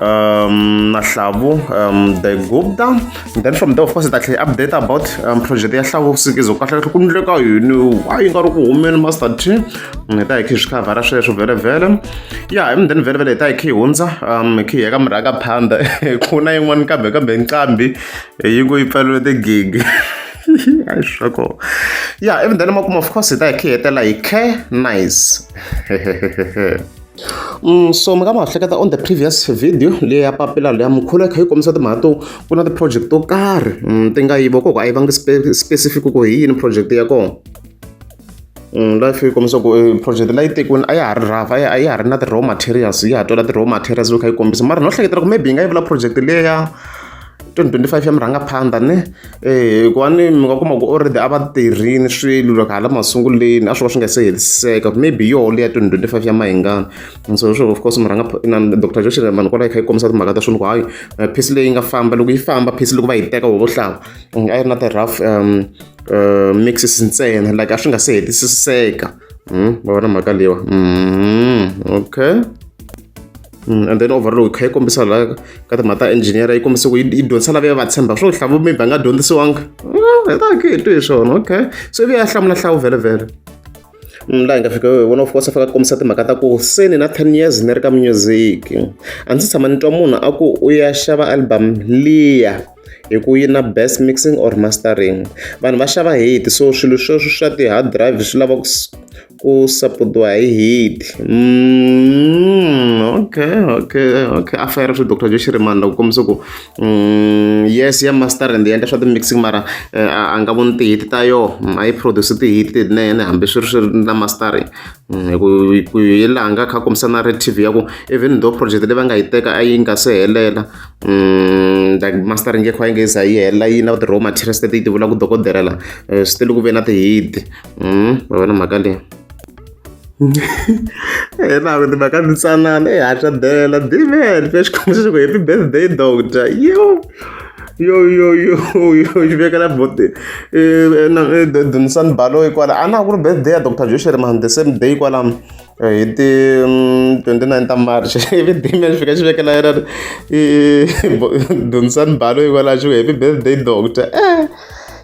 um, Nahlavu um, the Gupta. And then from there, of course, it actually update about um, project ya Hlavu Sikizo. Kahle kahle kundleka yini? Why you got to women master team? Ngita mm, ikhi shikava ra shesho vele vele. Yeah, and then vele vele ta ikhi hunza. Um, ikhi yeka mraka panda. Kuna yin'wani kambe kambe nqambi. Yi ku yi pfalele the gig. I struggle. Yeah, even then, of course, it I care. Like, nice. so mi nga ma ha hleketa on the previous video leyi ya papila leya mukhulo yi kha yi kombisa timhaka to ku na ti-project to karhi mm, ti nga yivo koko a yi vangi specific ku hi yini project ya kona mm, life yi kombisa ku eh, project leyi tekiwini a ya ha ri rafa a ya ha ri na ti-raw materials yi ha twela ti-raw materials loko kha yi kombisa mara no hleketela ku maybe yi nga yi vula project leya 2025 ya murhangaphandha ne eh hikuva ni mi nga kuma ku already a va tirhini swilo loko hala masunguleni a swi va swi nga se hetiseka maybe yo leya 2025 ya mahingana so sure of course murhangaphandha dr josh mani kwalaho kha yi kombisa timhaka ta swilo ku hayi eh, phisi leyi nga famba loko yi famba phisi loko va yi teka hovo hlava mm, a yi ri na ti-rough um eh, mixes ntsena like a swi nga se hetisiseka mm, va vona mhaka leyiwa mm, okay Mm, and then overall kha yi kombisa la ka timhaka ta engineer yi kombisa ku yi dyondzisa lava ya va tshemba swo hlavu maybe a nga dyondzisiwanga ah, ta ke twi hi swona okay so ivi ya hlamula hlawu vhele vhele mm, laha hi nga fika vona of course a fika kombisa timhaka ta ku se ni na ten years ni ri ka music a ndzi tshama ni twa munhu a ku u ya xava album liya hi ku yi na best mixing or mastering vanhu va xava hate so swilo sweswo swa ti-hard drive swi lava ku ku saputiwa hi heat okay okay okay a fayara swi doctor Joe Shirimani loko kombisa ku yes ya master and endla swa ti-mixing mara a nga voni ti-heat ta yoho a yi produce ti-heat tinene hambi swi ri swi ri na mastering hi ku ku hi laha nga kha kombisa na red tv ya ku even though project leyi va nga yi teka a yi nga se helela like mastering yi kha yi nga se za yi hela yi na ti-raw materials leti yi ti vulaka dokodela la still ku ve na ti-heat. mm, va vona mhaka leyi yena ku timhaka ntsanana i hatla bela dimen fe xikhombo xi ku happy birthday doctor yo yo yo yo yo xi vekela bote dunisani balo yi kwala a na ku ri birthday ya doctor joshua man the same day kwalamo hi ti 29 mm, ta march ivi damian fika xi vekela yena dunisani balo yi kwala xi ku happy birthday doctor eh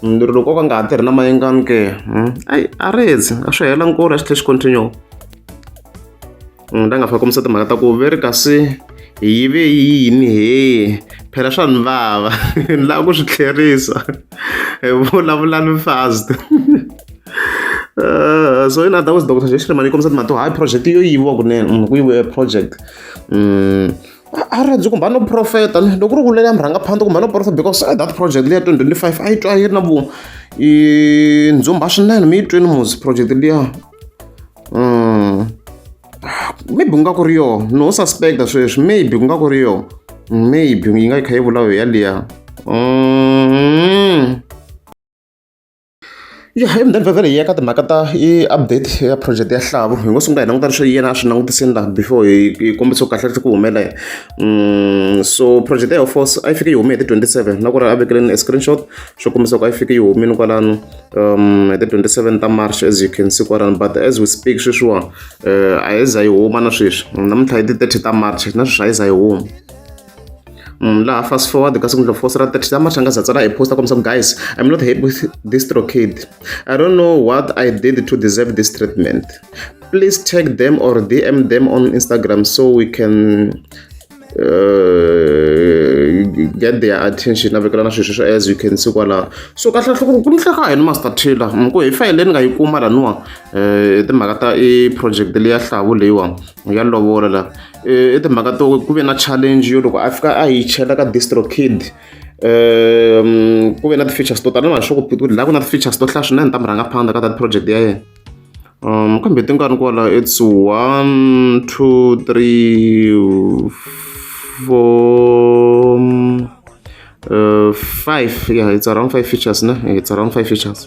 lero loko o ka nga ha tirhi na mayengani ke hmm? ayi a rezi a swi hela nkulu a swi tlhe xi continue la nga fika kombisa timhaka ta ku veri kasi yi ve yini he phela swa ni vava ni lava ku swi tlherisa hi vulavula ni fast Uh, so in other words dr jeshlemani yi kombisa timhaka to hayi project yo yiviwa kunene mm, ku yiviwe project um a ri rhandzi kumbe a no profeta loko ku ri ku leyi a mi rhanga phanda kumbe a no profeta because eh, that project leyi ya twenty twenty five a yi twa yi ri na vu ndzumba swinene mi yi twini muzi project liya mm. ah, maybe ku nga ku ri yoho no suspecta sweswi maybe ku nga ku ri yoho maybe yi nga yi kha yi vulayo yaliya mm. Ya hi mhani vhele hi ya ka timhaka ta i update ya project ya xilavu hi ngo sungula hi languta leswi yena a swi langutisini laha before hi hi kombisa kahle leswi ku humelela so project ya force a yi fike yi hume hi ti 27 na ku ri a vekeleni e screenshot swo kombisa ku a yi fike yi humile kwalano um hi ti 27 ta march as you can see kwalano but as we speak sweswiwa a yi za yi huma na sweswi namuntlha hi ti 30 ta march na sweswi a yi za yi huma laha fast forward kasi ku ndlo fosira thirty za machanga za tsala hi posta kombisa ku guys i'm not happy with this trokid i don't know what i did to deserve this treatment please tag them or dm them on instagram so we can uh, get their attention na vekela na swilo sweswo as you can see kwalaho so kahle kahle ku ku nihleka hi ni master taylor ku hi fayile ni nga yi kuma laniwa um timhaka ta i project leya hlavu leyiwa ya lovola la i timhaka to ku ve na challenge yo loko a fika a yi chela ka distro kid um ku ve na ti-features to tala na sure ku phituti laha ku na ti-features to hlaya swinene ta mi rhanga phanda ka that project ya yena um kambe ti nga ni kwala it's one two three four uh, five yeah it's around five features ne it's around five features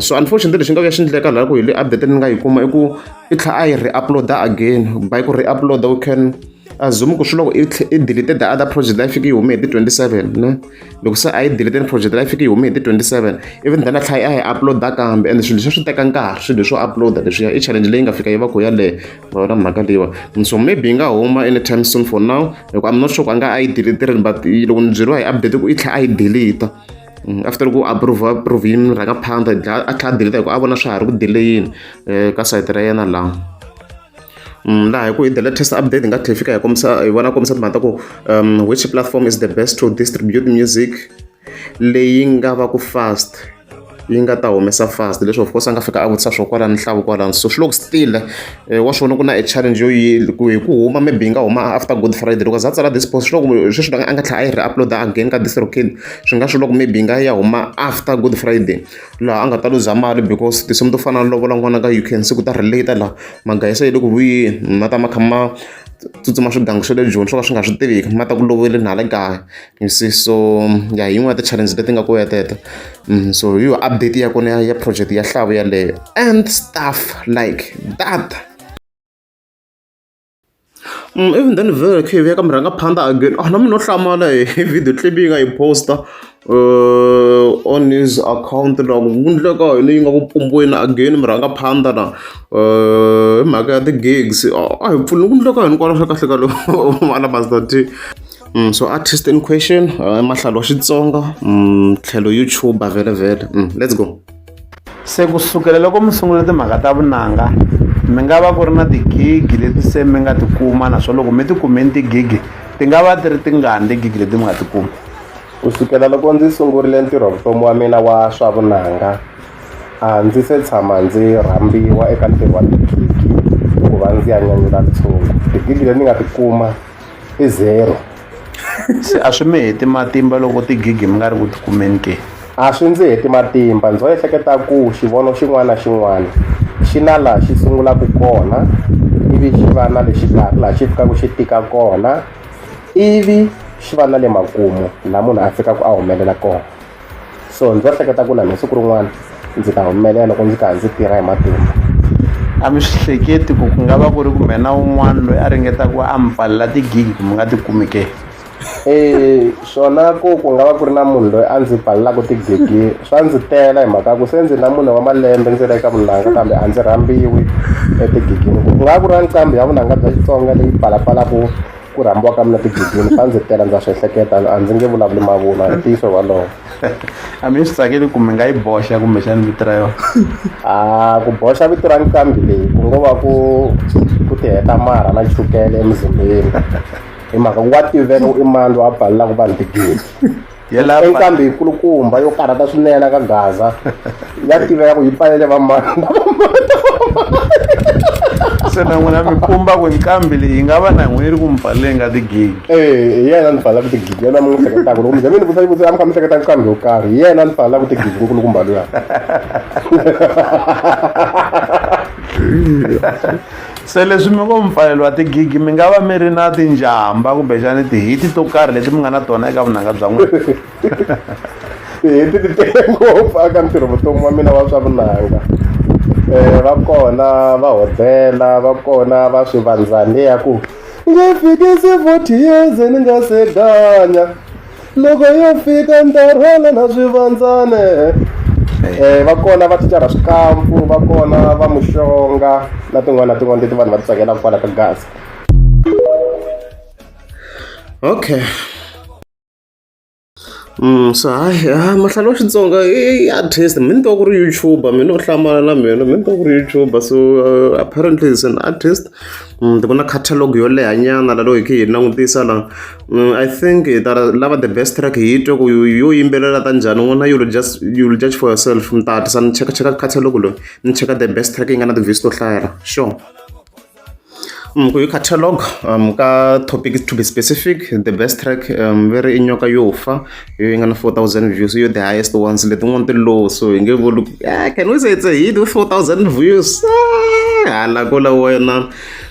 so unfortunately lexi nga ka xi endleka laha ku hi le update ni nga yi kuma i ku i tlha a yi re-uploada again by ku re-uploada u can assume ku swi loko i delete the other project leyi fike yi hume hi ti 27 ne loko se a yi delete ni project leyi fike yi hume hi ti 27 even then a tlhela a yi uploada kambe and swilo leswi swi teka nkarhi swilo leswo uploada leswiya i challenge leyi nga fika yi va ku yaleyo vona mhaka leyiwa so maybe yi nga huma anytime soon for now hikuva i'm not sure ku a nga a yi delete rini but loko ni byeriwa hi update ku i tlhela a yi delete after ku approve approve yini mi rhanga phanda a tlhela a delete hi ku a vona swa ha ri ku delayini eh, ka sayiti ra yena laha mm, laha hi ku hi delete test update hi nga tlhela fika hi kombisa hi vona kombisa timhaka ta ku um, which platform is the best to distribute music leyi nga va ku fast yi nga ta humesa fast leswi of course a nga fika a vutisa swo kwalani nhlavu kwalani so swi loko still wa swi vona ku na e challenge yo yini ku hi ku huma maybe yi nga huma after good friday loko za tsala this post swi loko sweswi a nga tlhela a yi ri upload again ka this rokin swi nga swi loko maybe yi nga ya huma after good friday laha a nga ta luza mali because tinsimu to fana na lovola n'wana ka uk siku ta relate laha magaya se yi le ku vuyeni ma ta ma kha ma tsutsuma swigangu swa le joni swo ka swi nga swi tiviki ma ta ku lovele na le kaya You see so ya hi yin'wana ya ti-challenge leti nga kona ya teto so hi yona update ya kona ya ya project ya nhlavu yaleyo and stuff like that Mm, even then vele khe veka murhanga phanda again ah nami no hlamala hi video clip yi nga yi posta uh, on his account na ku vundleka yini yi nga ku pumbweni again murhanga phanda na uh, hi mhaka ya ti-gigs a hi pfuni vundleka hinkwalaswa kahle ka loko ala mazati Mm, so artist in question uh, mahlalo wa xitsonga mm, tlhelo youtuber vele vele mm, let's go se ku sukela loko mi sungula timhaka ta vunanga mi nga va ku ri na tigigi leti se mi nga ti kuma naswona loko mi ti kumeni tigigi ti nga va ti ri tingani tigigi leti mi nga ti kuma ku sukela loko ndzi sungurile ntirho vutomi wa mina wa swa vunanga a ndzi se tshama ndzi rhambiwa eka ntirho wa tigigi ku va ndzi ya nyanyula ntshungu tigigi leti ni nga ti kuma i zero se a swi mi heti matimba loko tigigi mi nga ri ku tikumeni ke a swi ndzi heti matimba ndzo ehleketa ku xivono xin'wana na xin'wana xi na laha xi sungulaka kona ivi xi va na lexi karhi laha xi fikaka xi tika kona ivi xi va na le makumu laha munhu a fikaka a humelela kona so ndzi hleketa ku na siku rin'wana ndzi ta humelela loko ndzi karhi ndzi tirha hi matimba a mi swi hleketi ku ku nga va ku ri ku mena un'wana loyi a ringeta ku a mi pfalela tigigi ku mi nga ti kumi ke eh swona ku ku nga va ku ri na munhu loyi a ndzi pfalelaka tigigi swa ndzi tela hi mhaka ku se ndzi na munhu wa malembe ndzi ri eka vunanga kambe a ndzi rhambiwi etigigini ku nga ku ri na nqambi ya vunanga bya xitsonga leyi pfalapfalaku ku rhambiwa ka mina tigidini swa ndzi tela ndza swi ehleketa a ndzi nge vulavuli mavunwa hi ntiyiso walowo a mi swi tsakeli ku mi nga yi boxa kumbexani vito ra yona a ku boxa vito ra nqambi leyi ku ngo va ku ku ti heta marha na chukele emuzimbeni hi mhaka ku wa tiveka u i mani loyi a balelaka vanhu tigidi Yelapha. Enkambi yikulukumba yo karhata swinene ka Gaza ya tiveka ku yi pfalele vamani se na n'wina mi kumba ku nqambi leyi yi nga va na n'wina yi ri ku mi pfaleleni ka tigigi Eh, hi yena ni pfalelaka tigigi yena mi n'wi hleketaka loko mi ze mi ni vutisa xivutiso a mi kha mi hleketa nqambi yo karhi hi yena ni pfalelaka tigigi nkulukumba luya se leswi mi ngo mpfaleliwa tigigi mi nga va mi ri na tinjhamba kumbexani tihiti to karhi leti mi nga na tona eka vunanga bya n'wina tihiti ti tele ngopfu aka ntirho vutomi wa mina wa swa vunanga um va kona va hodela va kona va swi vandzaniya ku nge fikisi forty years ni nga se ganya loko yo fika ni ta rhwala na swivandzane um va kona va ticara swikampu va kona va muxonga na tin'wana na tin'wana leti vanhu va ti tsakelaka kwala ka gaza okay Mm, so hayi ha mahlala wa xitsonga i artist mi ni twa ku ri youtuber mi no hlamala na mina mi ni twa ku ri youtuber so uh, apparently is an artist mm, ni vona catalog yo lehanyana lalo hi khe hi langutisa la Mm, I think eh, that uh, lava the best track hi twe ku yo yo yimbelela ta njhani n'wana you'll just you'll judge for yourself mi ta hatlisa ni cheka cheka catalogue loyi ni cheka the best track yi nga na ti-views to hlayela sure um ku hi catalogue um ka topic to be specific the best track um ve ri i nyoka yo fa yo yi nga na 4000 views yo the highest ones letin'wana ti low so hi nge vuli ku, "Ah, can we say it's a hit with 4000 views Ah, hala kula wena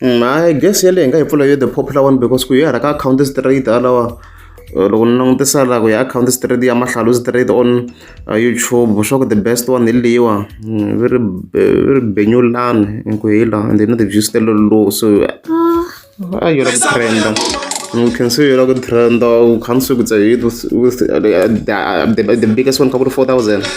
I guess yaleyo hi nga yi pfula yo the popular one because ku hi hala ka akhawunti straight halawa loko ni langutisa la ku ya akhawunti straight ya mahlalo straight on YouTube swa ku the best one hi leyiwa va ri va ri Benyulani inku hi la and na ti-views ta low so a yi la ku trend-a ni khensa se yi la ku trend-a u kha ni swi ku the the biggest one ka ku ri four thousand.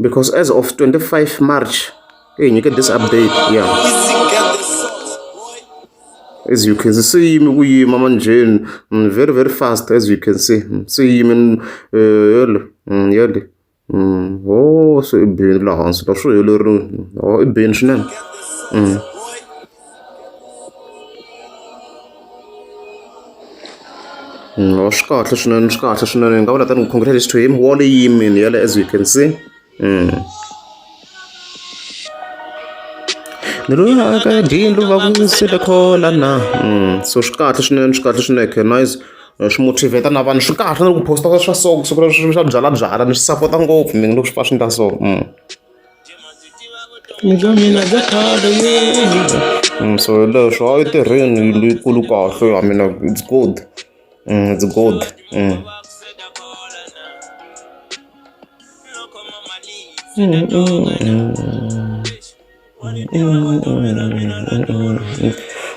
Because as of 25 March, hey, you get this update, yeah. As you can see, mm, very, very fast, as you can see. Mm, see, mm, uh, Mm. Oh, så i byen la han seg da, så gjør det, og i byen sin. Mm. no swi kahle swinene swi kahle swinene ni nga vula tani congratulations to him wall yi yimile yale as you can see mm. ni loyi aka dindlu va ku sile khola na mm. so swi kahle swinene swi kahle swinene okay, nice swi motivate na vanhu swi kahle na ku posta swa so kusuka swa byalabyala ni swi sapota ngopfu mina loko swi pfa swi ndla so mm. Mhaka mina bya khale Mm, so hi leswo a yi tirheni yindlu yikulu kahle ya mina it's good mm, it's good mm.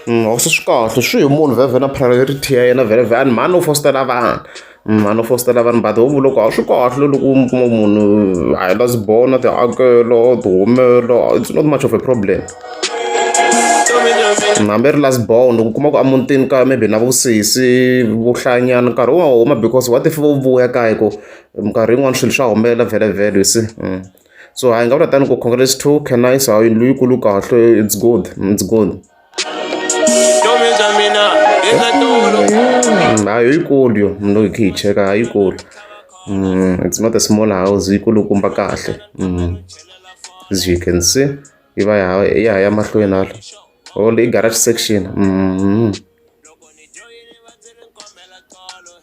Mm, a swi swi kahle swi hi munhu vhevhe na priority ya yena vhele vhe a ni mhani u fositela vanhu n'wana u fositela vanhu but ho vula ku a swi kahle loko u mi kuma munhu a hi la swibono tihakelo tihumelo it's not much of a problem hambi ri last born u kuma ku emutini kaya maybe na vusesi vuhlanyana nkarhi wu nga huma because what if vo vuya kaya ku minkarhi yin'wana swilo swa humelela vhele vhele you see mm. so hayi nga vula tani ku congrats to canice hayi yindlu yikulu kahle it's good it's good Mm, hayo yikulu yo mno khe yicheka hayi yikulu mm, it's not a small house yikulukumba kahle mm, as you can see yi va ya ya mahlweni hala all i garage section mm.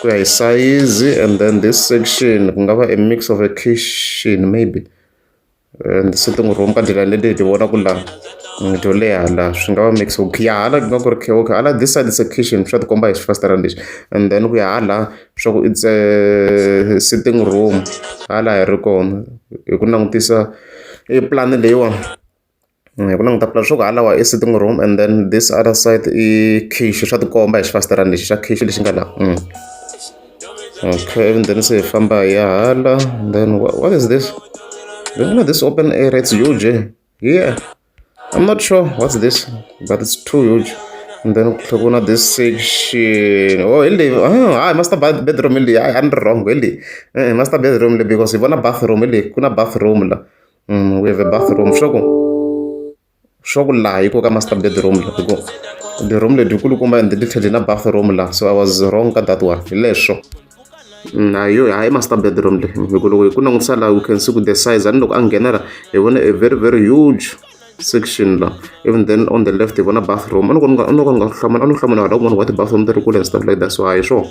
ku ya hi sayizi and then this section ku nga va a mix of a kitchen maybe and sitting room ka ndlela leti hi ti vonaku laha to leha laha swi nga va mix ok ya hala ku nga ku ri khe okay hala this side is a kitchen swa ti komba hi xifasitara lexi and then ku ya hala swa ku it's a sitting room hala hi ri kona hi ku langutisa e plan leyiwani hi ku languta pulani swa ku halawa i sitting room and then this other side i khichi swa tikomba hi xifasiterani lexi xa khichi lexi nga laha mm. okay and then se hi famba hi ya hala then what, what is this you know this open area it's huge eh? yeah i'm not sure what's this but it's too huge and then ku na this section oh ili oh, ah, master bedroom ili i am wrong ili eh, master bedroom because hi vona bathroom ili ku na bathroom la Mm, we have a bathroom swa ku swa ku laha yi koka master bedroom loko ku bedroom leti kulukumba ende ti tlhele na bathroom laha so i was wrong ka that one hi leswo mm, a yo hayi master bedroom leyi hikuva loko hi ku langutisa laha we can see ku the size ani loko a nghena la hi vona a very very huge section la even then on the left hi vona bathroom a ni ku ni nga hlamula a ni hlamula hala kun'wana wa ti-bathroom ti ri kule and stuff like that so hayi swona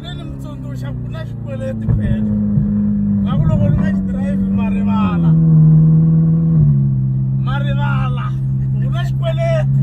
ne ni mi tsundzuxa ku na xikweleti phela va ku loko ni nga xi drive ma rivala ma rivala ku na xikweleti